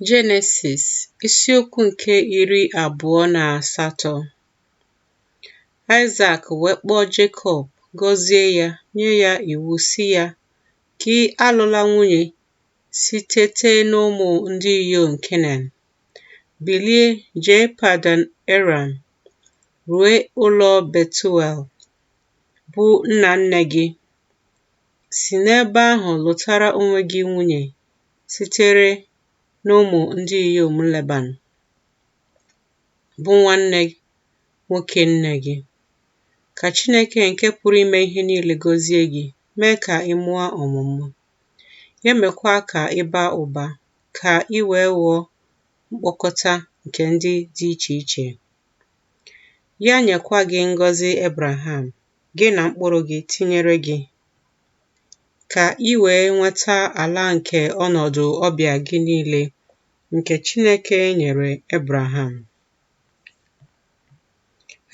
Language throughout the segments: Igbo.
Jenesis isiokwu nke iri abụọ na asatọ Aịsak wee kpọọ Jekọb gọzie ya nye ya iwu sị ya gị alụla nwunye sitete n'ụmụ ndị inyom Kenan bilie jee Padan Aram rue ụlọ Betuel bụ nna nne gị si n'ebe ahụ lụtara onwe gị nwunye sitere n'ụmụ ndị inyom Leban, bụ nwanne nwoke nne gị. Ka Chineke nke pụrụ ime ihe niile gọzie gị, mee ka ị mụọ ọmụmụ, ya mekwa ka ị baa ụba, ka ị wee ghọọ mkpọkọta nke ndị dị iche iche. Ya nyekwa gị ngọzi Ebraham, gị na mkpụrụ gị, tinyere gị. ka i wee nweta ala nke ọnọdụ ọbịa gị niile, nke Chineke nyere Ebraham.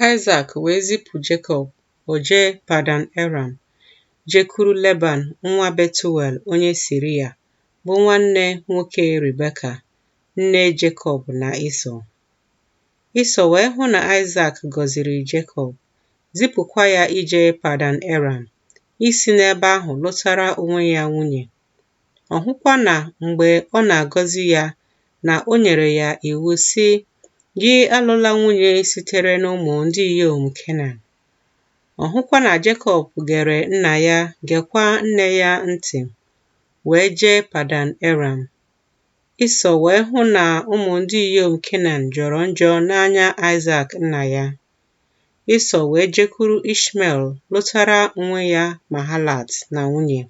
Aịsak wee zipụ Jekọb, o jee Padan Aram, jekwuru Leban nwa Betuel onye Siria, bụ nwanne nwoke Rebeka, nne Jekọb na Ịsọ. Ịsọ wee hụ na Aịsak gọziri Jekọb, zipụkwa ya ije Padan Aram, isi n'ebe ahụ lụtara onwe ya nwunye. Ọ hụkwa na mgbe ọ na-agọzi ya na o nyere ya iwu, sị, Gị alụla nwunye sitere n'ụmụ ndị inyom Kenan. Ọ hụkwa na Jekọb gere nna ya, gekwa nne ya ntị, wee jee Padan Aram. Ịsọ wee hụ na ụmụ ndị inyom Kenan jọrọ njọ n'anya Aịsak nna ya, Ịsọ wee jekwuru Ishmel lụtara onwe ya Mahalat na nwunye,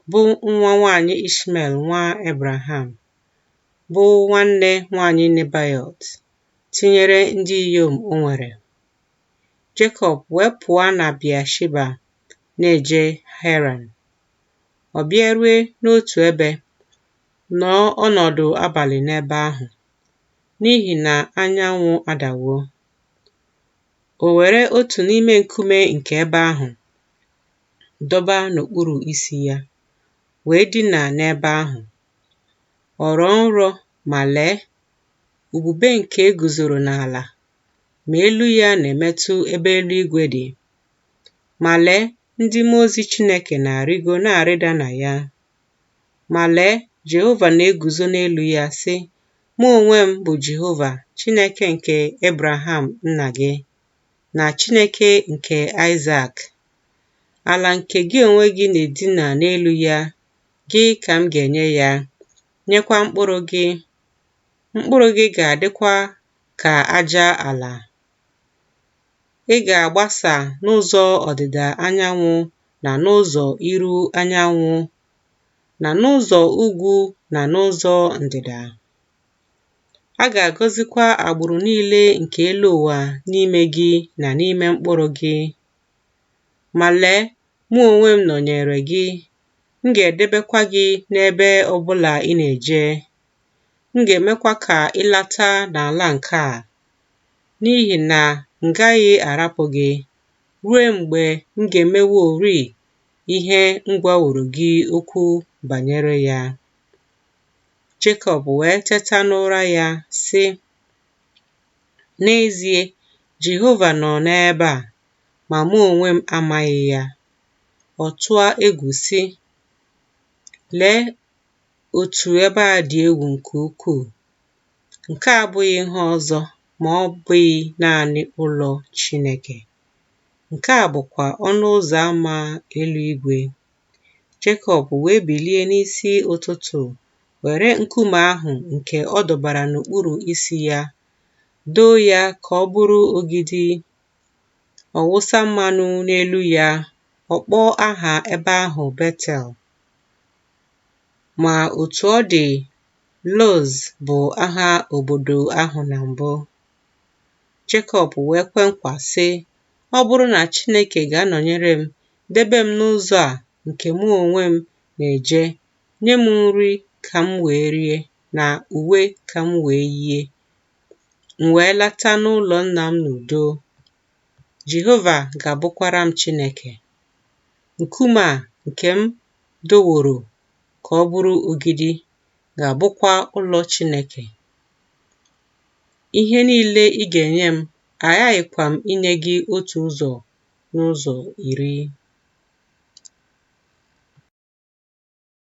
bụ nwa nwaanyị Ishmel nwa Ebraham, bụ nwanne nwaanyị Nebayọt, tinyere ndị inyom o nwere. Jekọb wee pụọ na Bịasheba na-eje Heran. Ọ bịarue n'otu ebe, nọọ ọnọdụ abalị n'ebe ahụ, n'ihi na anyanwụ adawo. O were otu n'ime nkume nke ebe ahụ dọba n'okpuru isi ya, wee dina n'ebe ahụ. Ọ rọọ nrọ ma lee, ubube nke e guzoro n'ala, ma elu ya na-emetụ ebe eluigwe dị. Ma lee, ndị mmụọ ozi Chineke na-arịgo na-arịda na ya. Ma lee, Jehova na-eguzo n'elu ya, sị, Mụ onwe m bụ Jehova, Chineke nke Ebraham nna gị, na Chineke nke Aịzak. Ala nke gị onwe gị na-edina n'elu ya, gị ka m ga-enye ya, nyekwa mkpụrụ gị. Mkpụrụ gị ga-adịkwa ka aja ala. Ị ga-agbasa n'ụzọ ọdịda anyanwụ na n'ụzọ iru anyanwụ na n'ụzọ ugwu na n'ụzọ ndịda. A ga-agọzikwa agbụrụ niile nke elu ụwa n'ime gị na n'ime mkpụrụ gị. Ma lee, mụ onwe m nọnyeere gị, m ga-edebekwa gị n'ebe ọ bụla ị na-eje, m ga-emekwa ka ị lata n'ala nke a, n'ihi na m gaghị arapụ gị ruo mgbe m ga-emeworị ihe m gwaworo gị okwu banyere ya. Jekọb wee teta n'ụra ya, sị, N'ezie, Jehova nọ n'ebe a, ma mụ onwe m amaghị ya. Ọ tụọ egwu, sị, Lee otu ebe a dị egwu nke ukwuu! Nke a abụghị ihe ọzọ ma ọ bụghị naanị ụlọ Chineke. Nke a bụkwa ọnụ ụzọ ama eluigwe. Jekọb wee bilie n'isi ụtụtụ, were nkume ahụ nke ọ dọbara n'okpuru isi ya, doo ya ka ọ bụrụ ogidi. Ọ wụsa mmanụ n'elu ya, ọ kpọọ aha ebe ahụ Betel. Ma otu ọ dị, Luz bụ aha obodo ahụ na mbụ. Jekọb wee kwe nkwa, sị, Ọ bụrụ na Chineke ga-anọnyere m, debe m n'ụzọ a nke mụ onwe m na-eje, nye m nri ka m wee rie na uwe ka m wee yie, m wee lata n'ụlọ nna m n'udo, Jehova ga-abụkwara m Chineke. Nkume a nke m doworo ka ọ bụrụ ogidi ga-abụkwa ụlọ Chineke. Ihe niile ị ga-enye m, aghaghịkwa m inye gị otu ụzọ n'ụzọ iri.